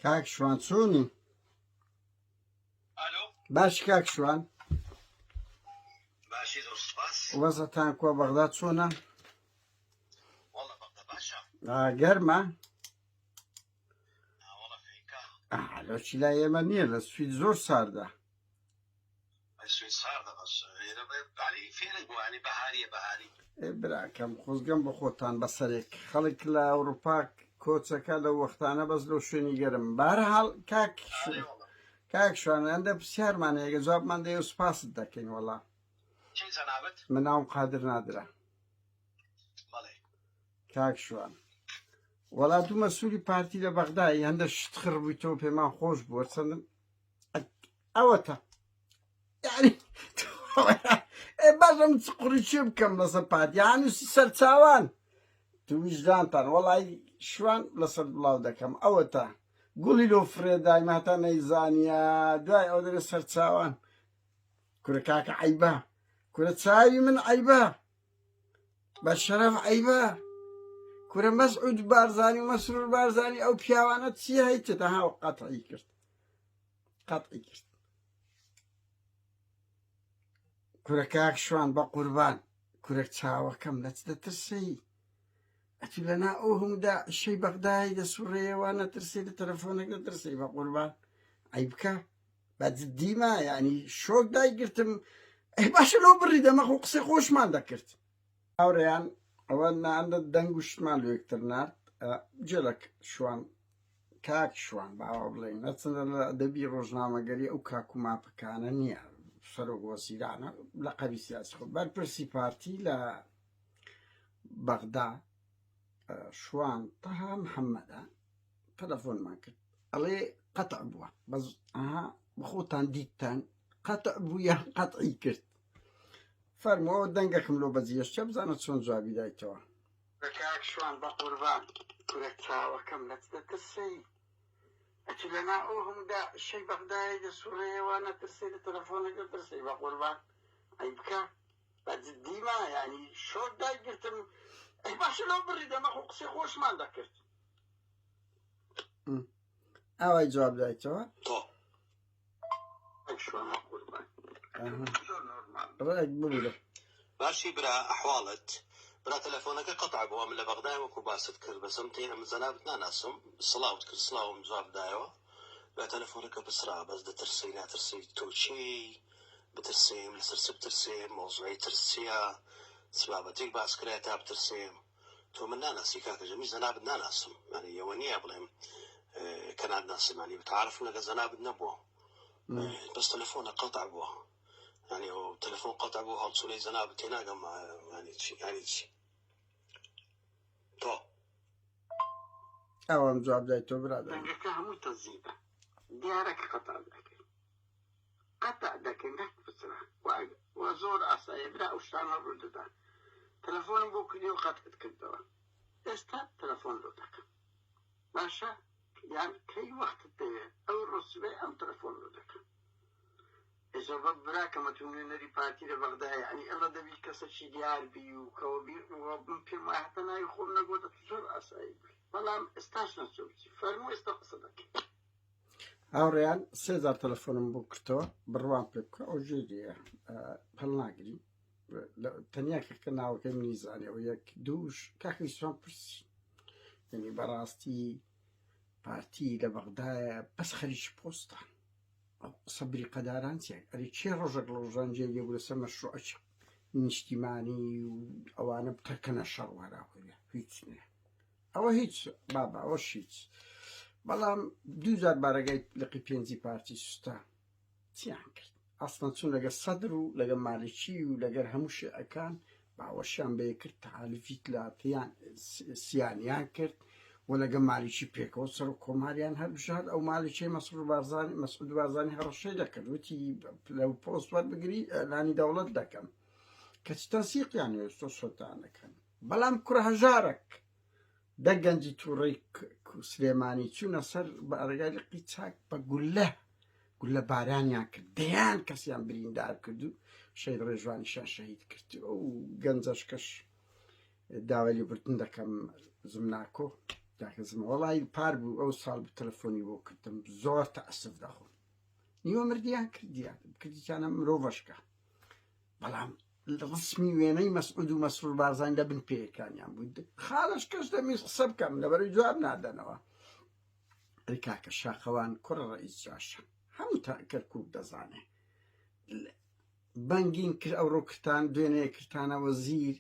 کاک شوان چۆنی باش کاک شوان وەزەتان کۆ بەغدا چۆنە گەرمە لەچی لا ئێمە نییە لە سوید زۆر ساردە براکەم خۆزگەم بۆ خۆتان بە سەرێک خەڵک لە ئەوروپا کۆچەکە لە وەختانە بەس لەو شوێنی گەرم بارەحاڵ کاک کاک شوانیان دە پرسیارمان هەیەگە جوابمان دەێ و سپاست دەکەین وەڵا من ناوم قادر نادرا کاک شوان وەڵات و مەسووری پارتی لە بەغدای هەندە شت خڕبوویتەوە پێمان خۆش بووە چەندم ئەوەتە باشم قڕی چێ بکەم لەسەر پادیان و سەرچاوان تویژدانتان وەڵی شوان لەسەر بڵاو دەکەم ئەوەتە گوڵی لۆ فرێدای ماتا نەیزانە دوای ئەو دەێ سەرچاوان کورە کاکە عیبە کورە چاوی من عیبە بە شەرەف عیبە کورە مەسعود بارزانانی و مەسرور بارزانانی ئەو پیاوانە چی هەیتە دەهاو قەتعی کرد قەتعی کرد کورە کاک شوان بە قوربان کورە چاوەکەم لە چ دەترسێی ئەتو لەنا ئەو هەموو داعشەی بەغدای دەسوڕێەوە نەترسێ لە تەلەفۆنێک دەترسێی بە قوربان ئەی بکە بە جدیمە یعنی شۆک دایگرتم ئەی باشە لەو بڕی دەمەخ و قسەی خۆشمان دەکرد هاورێیان ئەوە نا ئەندە دەنگ و شتمان لۆ یەکتر نارد جێ لە شوان کاک شوان باوا بڵێین ئەچنە لە ئەدەبی ڕۆژنامەگەری ئەو کاک و ماپەکانە نییە سەرۆک وەزیرانە لە قەبی سیاسی خۆ بەرپرسی پارتی لە بەغدا شوان تەها محەممەدە تەلەفۆنمان کرد ئەڵێ قەتع بووە بەس ئەها بخۆتان دیتتان قەتع بوو یان قەتعی کرد فەرموو ئەوە دەنگەکم لۆ بەجیەشتە بزانە چۆن جوابی دایتەوە. کاک شوان بەقوربان کورە چاوەکەم لەت دەترسێی ئەتو لەنا ئەو هەموو دا شەی بەغدایە دەسوڕێەوە نەترسێ لە تەلەفۆنەک دەترسێی بەقوربان ئەی بکە بە جدیما یعنی شۆک دای گرتم ئەی باشە لەو بڕی دەمە خۆ قسەی خۆشمان دەکرد ئاوای جواب دایتەوە تۆ ڕێک ببرە باشی برا ئەحواڵت برا تەلەفۆنەکە قەتع بووە من لە بەغدای وەکو باست کرد بەسم تێ ئەم جەنابت ناناسم سڵاوت کرد سڵاوم جواب دایەوە بە تەلەفۆنەکە بسرا بەس دەترسی ناترسی تۆچی بترسیم لەسەر چ بترسێ مۆزوعی ترسیە چ بابەتێک باس کرا تا بترسێم تۆ من ناناسی کاکە ژیر من جەنابت ناناسم یانی ئەوە نییە بڵێم کە ناتناسم یانی متعارفم لەگەڵ جەنابت نەبووە بەس تەلەفۆنە قەتع بووە یانی ئەو تەلەفۆن قەتع بوو هەڵچوونەی جەنابت تێناگەم یانی چی یانی چی تۆ ئەوان جواب دای تۆ برادەکە هەمووی تەزیبە دیارە کە قەتع دەکەی قەتع دەکەی مەحک بچڕە وە زۆر ئاسایە برا ئەو شتانە ڕوو دەدا تەلەفۆنم بۆ کردی و قەتعت کردەوە ئێستا تەلەفۆن بۆ دەکەم باشە یان کەی وەختت دەوێت ئەو ڕۆسبێ ئەم تەلەفۆن بۆ دەکەم ئێزۆبە براکەمە تو نوێنەری پارتی لە بەغدا یعنی ئەڵە دەبی کەسەکی دیار بی و کەوە بی من پێم وایە هەتا ناوی خۆم نەگۆتە زۆر ئاسایی بی بەڵام ئێستاش نەچووی فەرموو ئێستا قسە دەکەی هاوڕێیان سێزار تەلەفۆنم بۆ کرتەوە بڕوام پێ بکە ئەو ژێری پەلناگری تەنیا کەکە ناوەکەی منی زانەوە یەک دووش کاکی سوان پرسی یعنی بەڕاستی پارتی لە بەغدایە بەس خەریکی پۆستە ئەو قسە بری قەداران چێک ئەری چێ ڕۆژێک لە ڕۆژان جێ لێ بوو لەسەر مەشروعەکی نیشتیمانی و ئەوانە بتەکەنە شەڕوارا هۆیە هیچ نیە ئەوە هیچ بابە ئەوەش هیچ بەڵام دووجار بارەگای لقی پێنجی پارتی سوستا چیان کرد ئەسڵەن چون لەگە سەدر و لەگە مالکی و لەگەر هەموو شێعەکان باوەشیان بێ کرد تعالیفیت لاتیان سیانیان کرد و لەگە مالیکی پێکەوە سەر و کۆماریان هەربژاد ئەو مالیکی مەسر بارزانانی مەسعود بارزانانی هەڕەشەی دەکرد وتی لەو پۆست وەربگری لانی دەوڵەت دەکەم کەچ تەنسیقیان هێشتۆ سلتانەکەن بەڵام کوڕە هەژارەک دە گەنجی تووڕەی سلێمانی چوونە سەر بارەگای لقی چاک بە گولە گولە بارانیان کرد دەیان کەسیان بریندار کرد و شەید ڕێژوانیشان شەهید کرد ئەو گەنجەش کەش داوای لێبوردن دەکەم زمناکۆ داکەزم وڵی پار بوو ئەو ساڵ بە تەلەفۆنی بۆ کردم زۆر تەعسف دەخۆم نیوە مردیان کردیان کردیانە مرۆڤشکە بەڵام ڕسمی وێنەی مەسعود و مەسرور بارزانی لە بن پێیەکانیان بوو خاڵش کەش دەمیز قسە بکەم لەبەرەوەی جواب نادەنەوە ئەی کاکە شاخەوان کوڕ ڕئیس جاشە هەموو تا کەرکوک دەزانێ بەنگین کرد ئەو ڕووکتان دوێنێ کرتانەوە زیر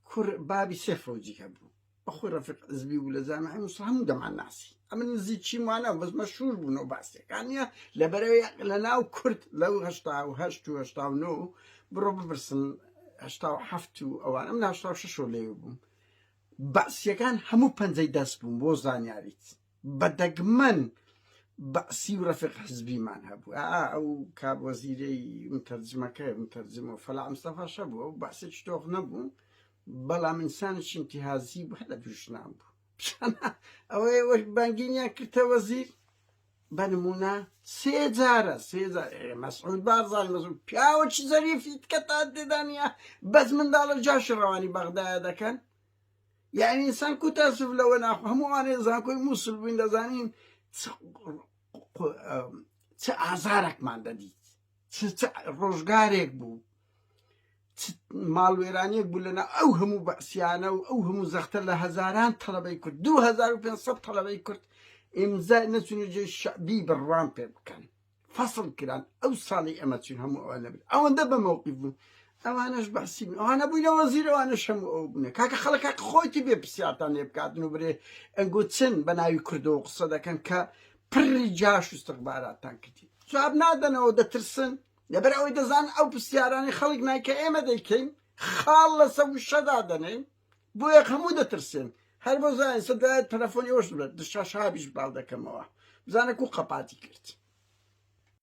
کوڕ بابی سێ فەوجی هەبوو بەخۆی ڕەفیق عزبی بوو لە جامعی موسڵ هەموو دەمان ناسی ئەمە نزیکیم وانە بەس مەشهور بوونەوە باسیەکانە لە بەرەوەی لە ناو کورد لەو هەشتا و هەشت و هەشتا و نۆ بڕۆ بپرسن هەشتا و هەفت و ئەوان ئەم ناشتا شەشۆ لێ بووم باسیەکان هەموو پەنجەی دەست بووم بۆ زانیاریت بە دەگمەن بەعسی و رەفیق حزبیمان هەبوو ئا ئەو کاب وەزیرەی متەرجمەکە متەرجمەوە فەلاح مستەفا شەبوو ئەو بەعسێکی تۆخ نەبوو بەڵام ئینسانێکی ئینتیهازی بوو هەر لە دوژنان بوو ئەوەی وەک بانگینیان کردە وەزیر بە نمونە سێ جارە سێ جار ئێ مەسعود بارزانی مەسعود پیاوەکی زەریفی کە تا تێدا نییە بەس منداڵە جاشی ڕەوانی بەغدایە دەکەن یانی ئینسان کو تاسف لەوە ناخۆ هەموو ئەوانەی زانکۆی مووسل بووین دەزانین چ ئازارێکمان دەدیت چ ڕۆژگارێک بوو ماڵوێرانیەک بوو لەنا ئەو هەموو بەسیانە و ئەو هەموو زەختە لە هەزاران تەڵەبەی کورد 2500 تەڵەبەی کورد ئیمزا نەچون و جێ شعبی بڕوان پێ بکەن فەسڵ کران ئەو ساڵی ئەمە چین هەموو ئەوە نەبێت ئەوەندە بە مەوقی بوون ئەوانەش بەسی ئەوانە بووی لەوە زیرەوانە شەم ئەو بنە کاکە خەڵکە خۆیتی بێ پرسیارتان لێ بکاتن و برێ ئەنگۆ چن بە ناوی کردەوە قسە دەکەن کە پڕی جاش و سەقباراتان کردی جواب نادەنەوە دەترسن لەبەر ئەوەی دەزان ئەو پرسیارانی خەڵک نایکە ئێمە دەیکەین خاڵ لەسە وشەدا دەنێن بۆیە هەموو دەترسێن هەر بۆ زانین سە دوای تەلەفۆنی ئەوش دشاشابیش باڵ دەکەمەوە بزانە کو قەپاتی کرد